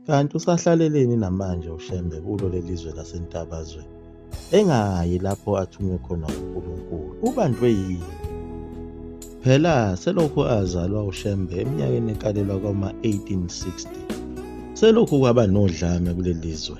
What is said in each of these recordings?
Kanti usahlaleleni namanje uShembe kulo lelizwe laseNtabazwe engayi lapho athunywe khona uNkulunkulu ubanjwe yini phela selokhu azalwa uShembe eminyakeni ekalelwa kwama-1860 selokhu kwaba nodlame kulelizwe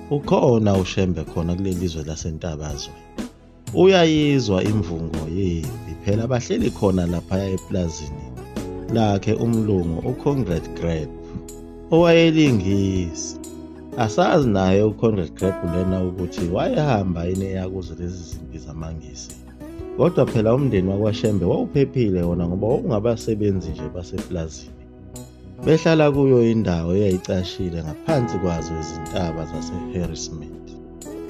Ukhona uShembe khona kuleli zwe laseNtabazwe. Uyayizwa imvungo yempi phela bahleli khona laphaya eplazini lakhe umlungu uConrad Greb owayelingisi. Asazi naye uConrad Greb lena ukuthi wayehamba yini eyakuzo lezi zimpi zamaNgisi. Kodwa phela umndeni wakwaShembe wawuphephile wona ngoba wawungabasebenzi nje baseplazini. behlala kuyo indawo eyayicashile ngaphansi kwazo izintaba zaseHarrismith.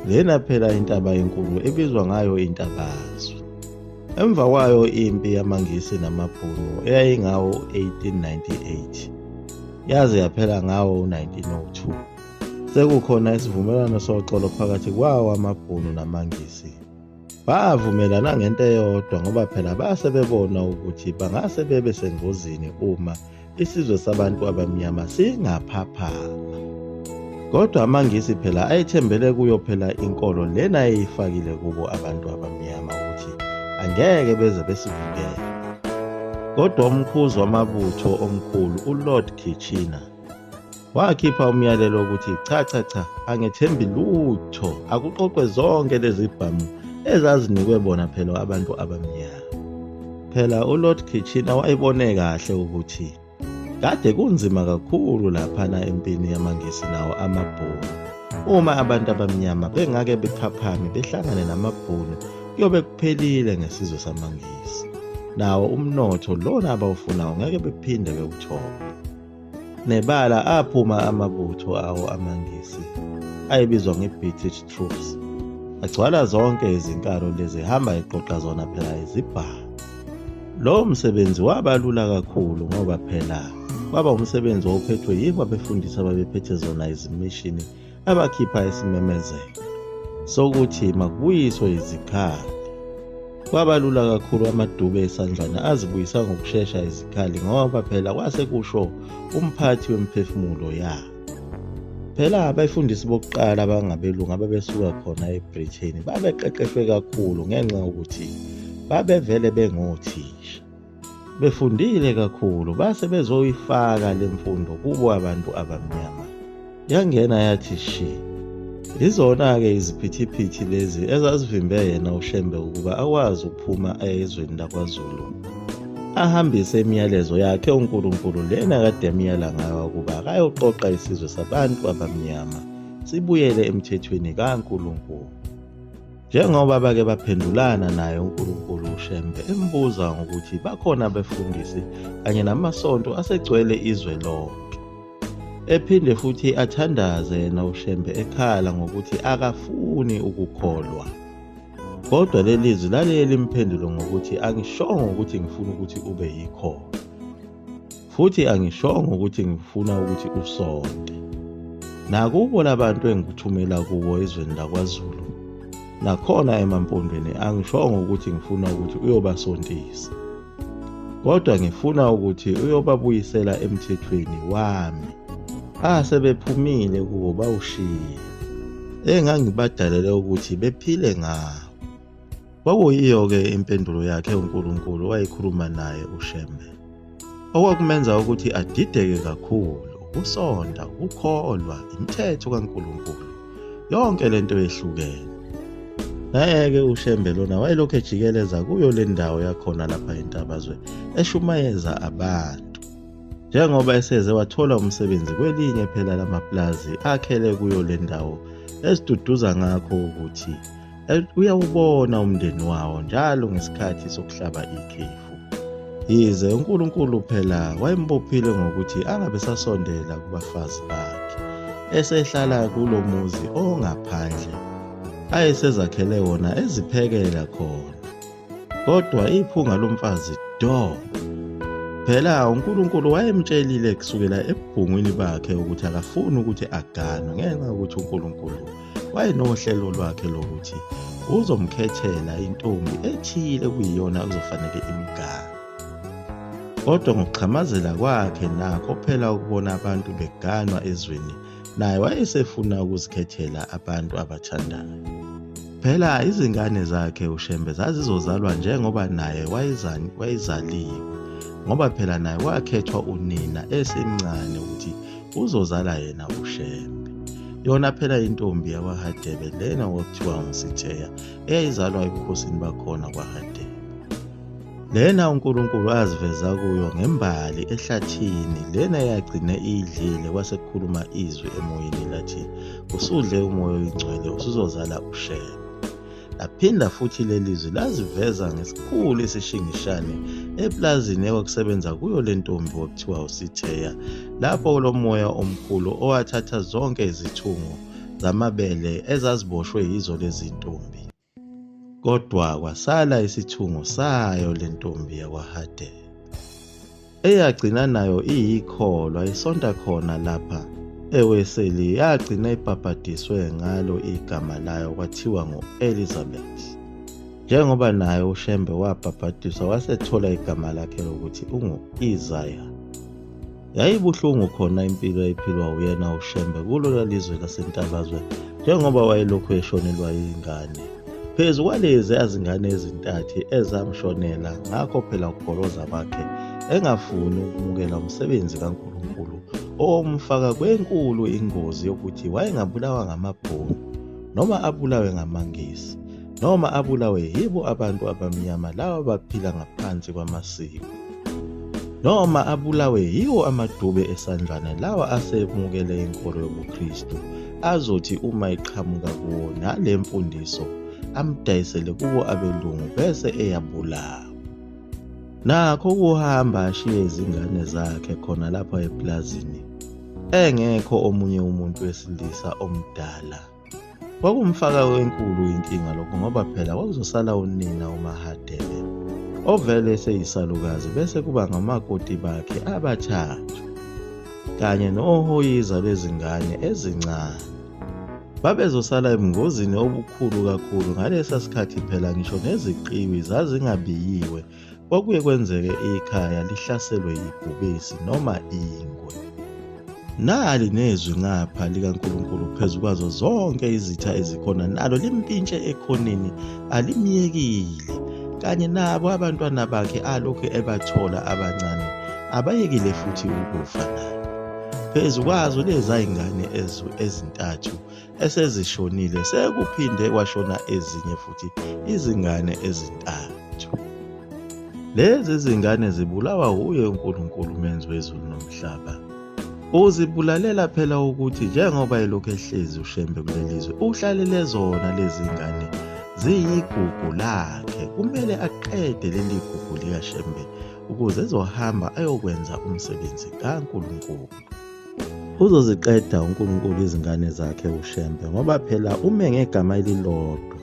Lena phela intaba enkulu ebizwa ngayo intabazwe. Emva kwayo impi yamaNgisi namaBhunu eyayingawo 1898 yaze yaphela ngawo 1902. Sekukhona isivumelwano soxolo phakathi kwawo amaBhunu namaNgisi. Bavumelana ngento eyodwa ngoba phela base bebona ukuthi bangase bebe sengozini uma isizwe sabantu abamnyama singaphaphama. Kodwa amaNgisi phela ayethembele kuyo phela inkolo lena eyifakile kubo abantu abamnyama ukuthi angeke beze besivikele. Kodwa umkhuzi wamabutho omkhulu uLord Kitchener Wakhipha umyalelo wokuthi cha cha cha angethembi lutho akuqoqwe zonke lezi bhamu ezazinikwe bona phela abantu abamnyama. Phela uLord Kitchina wayebone kahle ukuthi kade kunzima kakhulu laphana empini yamaNgisi nawo amabhunu. Uma abantu abamnyama bengake bephaphame behlangane namabhunu kuyobe kuphelile ngesizwe samaNgisi. Nawo umnotho lona abawufunayo ngeke bephinde bewuthole. Nebala aphuma amabutho awo amaNgisi ayebizwa nge-British troops agcwala zonke izinkalo lezi hamba eqoqa zona phela izibhamu Lowo msebenzi waba lula kakhulu ngoba phela kwaba umsebenzi owawuphethwe yibo abefundisi ababephethe zona izimishini abakhipha isimemezelo sokuthi makubuyiswe izikhali. Kwabalula kakhulu amadube esandlwana azibuyisa ngokushesha izikhali ngoba phela kwase kusho umphathi wemiphefumulo yabo. Phela abefundisi bokuqala abangabelungu ababesuka khona eBritain babeqeqeshwe kakhulu ngenxa yokuthi babevele bengothisha. befundile kakhulu base bezoyifaka le mfundo kubo abantu abamnyama yangena yathi shi izona-ke iziphithiphithi lezi ezazivimbe yena ushembe ukuba akwazi ukuphuma ezweni lakwazulu ahambise imiyalezo yakhe unkulunkulu lena kade emyala ngayo ukuba akayoqoqa isizwe sabantu abamnyama sibuyele emthethweni kankulunkulu Njengoba bake baphendulana naye uNkulunkulu uShembe embuza ngokuthi bakhona abefundisi kanye namasonto asegcwele izwe lonke. Ephinde futhi athandaze yena uShembe ekhala ngokuthi akafuni ukukholwa. Kodwa leli zwi laliye limphendule ngokuthi angishongo ukuthi ngifuna ukuthi ube yikhona. futhi angishongo ukuthi ngifuna ukuthi usonte nakubo labantu engikuthumela kubo ezweni lakwazulu nakhona emampondweni angishongo ukuthi ngifuna ukuthi uyobasontisa kodwa ngifuna ukuthi uyobabuyisela emthethweni wami asebephumile kuwo bawushiye engangibadalele ukuthi bephile ngawo Kwakuyiyo-ke impendulo yakhe uNkulunkulu wayekhuluma naye uShembe. Okwakumenza ukuthi adideke kakhulu ukusonda, ukukholwa, imithetho kaNkulunkulu. Yonke le nto yehlukene. Naye-ke uShembe lona wayelokhu ejikeleza kuyo le ndawo yakhona lapha entabazwe eshumayeza abantu. Njengoba eseze wathola umsebenzi kwelinye phela lamapulazi akhele kuyo le ndawo esiduduza ngakho ukuthi uyawubona umndeni wawo njalo ngesikhathi sokuhlaba ikhefu yize uNkulunkulu phela wayembophile ngokuthi angabe sasondela kubafazi bakhe esehlala kulo muzi ongaphandle ayesezakhele wona eziphekela khona kodwa iphunga lomfazi do phela uNkulunkulu wayemtshelile kusukela ebhungwini bakhe ukuthi akafuni ukuthi aganwe ngenxa yokuthi uNkulunkulu wayenohlelo lwakhe lokuthi uzomkhethela intombi ethile kuyiyona okuzofanele imgane kodwa ngokuxhamazela kwakhe nakho phela ukubona abantu beganwa ezweni naye wayesefuna ukuzikhethela abantu abathandayo phela izingane zakhe ushembe zazizozalwa njengoba naye wayezaliwe ngoba phela naye wakhethwa unina esemncane ukuthi uzozala yena ushembe yona phela intombi yakwahadebe lena okuthiwa ngusitheya eyayizalwa ebukhosini bakhona kwahadebe lena unkulunkulu aziveza kuyo ngembali ehlathini lena yagcine iyidlile kwasekukhuluma izwi emoyeni lathi usudle umoya oyingcwele usuzozala ushembe laphinda futhi leli zwi laziveza ngesikhulu isishingishane eplazini ekwakusebenza kuyo le ntombi okuthiwa usitheya lapho lo moya omkhulu owathatha zonke izithungo zamabele ezaziboshwe yizo lezi ntombi kodwa kwasala isithungo sayo le ntombi yakwahadela eyagcina nayo iyikholwa isonta khona lapha eweseli yagcina ibhabhadiswe ngalo igama layo kwathiwa ngu-elizabeth njengoba naye ushembe wabhabhadiswa wasethola igama lakhe lokuthi ungu-isaya yayibuhlungu khona impilo eyiphilwa uyena ushembe kulona lizwe lasentabazwe njengoba wayelokhu eshonelwa yingane Phezu kwalezi azingane ezintathu ezamshonela ngakho phela ukugoloza kwakhe engafuni ukumukela umsebenzi kaNkulunkulu owomfaka kwenkulu ingozi yokuthi wayengabulawa ngamabhunu noma abulawe ngamangisi noma abulawe yibo abantu abamnyama lawa baphila ngaphansi kwamasiko. noma abulawe yiwo amadube esandlwana lawa asemukele inkolo yobuKristu azothi uma iqhamuka kuwo nale mfundiso amdayisele kubo abelungu bese eyabulawa nakho ukuhamba ashiye izingane zakhe khona lapha eplazini engekho omunye umuntu wesilisa omdala Kwakumfaka wenkulu inkinga lokho ngoba phela kwakuzosala unina uMahadebe ovele eseyisalukazi bese kuba ngamakoti bakhe abathathu kanye nohoyiza bezingane ezincane. Babezosala ebungozini obukhulu kakhulu ngalesa sikhathi phela ngisho neziqiwi zazingabiyiwe Kwakuye kwenzeke ikhaya lihlaselwe yibhubesi noma ingwe. Nali nezwi ngapha likaNkulunkulu phezu kwazo zonke izitha ezikhona nalo limpintshe ekhoneni alimyekile kanye nabo abantwana bakhe alokhu ebathola abancane abayekile futhi ukufa naye phezu kwazo lezayingane ezintathu esezishonile sekuphinde kwashona ezinye futhi izingane ezintathu lezi zingane zibulawa wuye uNkulunkulu menzi wezulu nomhlaba uzibulalela phela ukuthi njengoba elokhu ehlezi ushembe kulelizwe uhlalele zona lezi ngane ziyigugu lakhe kumele aqede leli gugu likashembe ukuze ezohamba ayokwenza umsebenzi kaNkulunkulu Uzoziqeda uNkulunkulu izingane zakhe uShembe ngoba phela ume ngegama elilodwa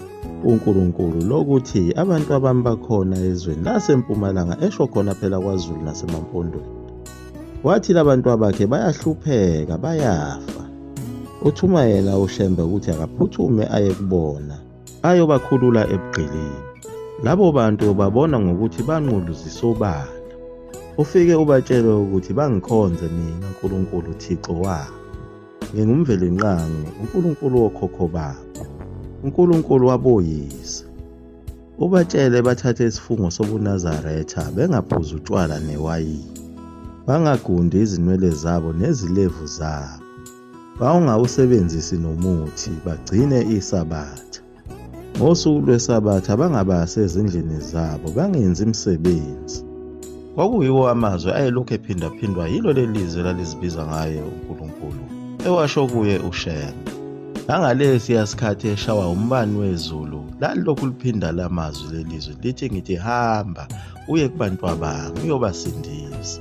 uNkulunkulu lokuthi abantu abami bakhona ezweni lasempumalanga esho khona phela kwaZulu nasemampondweni. Wathi labantu abakhe bayahlupheka bayafa. Uthuma yena uShembe ukuthi akaphuthume aye kubona. ayobakhulula ebugqilini. Labo bantu ubabona ngokuthi banqulu zisobala. Ufike ubatshele ukuthi bangikhonze mina Nkulunkulu Thixo wabo. Ngingumvelinqangi, uNkulunkulu wokhokho babo, uNkulunkulu waboyise. Ubatshele bathathe isifungo sobuNazaretha bengaphuzi utshwala newayini, bangagundi izinwele zabo nezilevu zabo. bawungawusebenzisi nomuthi bagcine isabatha ngosuku lwesabatha bangabasi ezindlini zabo bangenzi imisebenzi kwakuyiwo amazwi ayelokhu ephindaphindwa yilo leli lizwe lalizibiza ngaye unkulunkulu ewasho kuye ushembe ngangalesiya sikhathi eshawa umbani wezulu lalilokhu liphinda la mazwi lelizwi lithi ngithi hamba uye kubantu abami uyobasindisa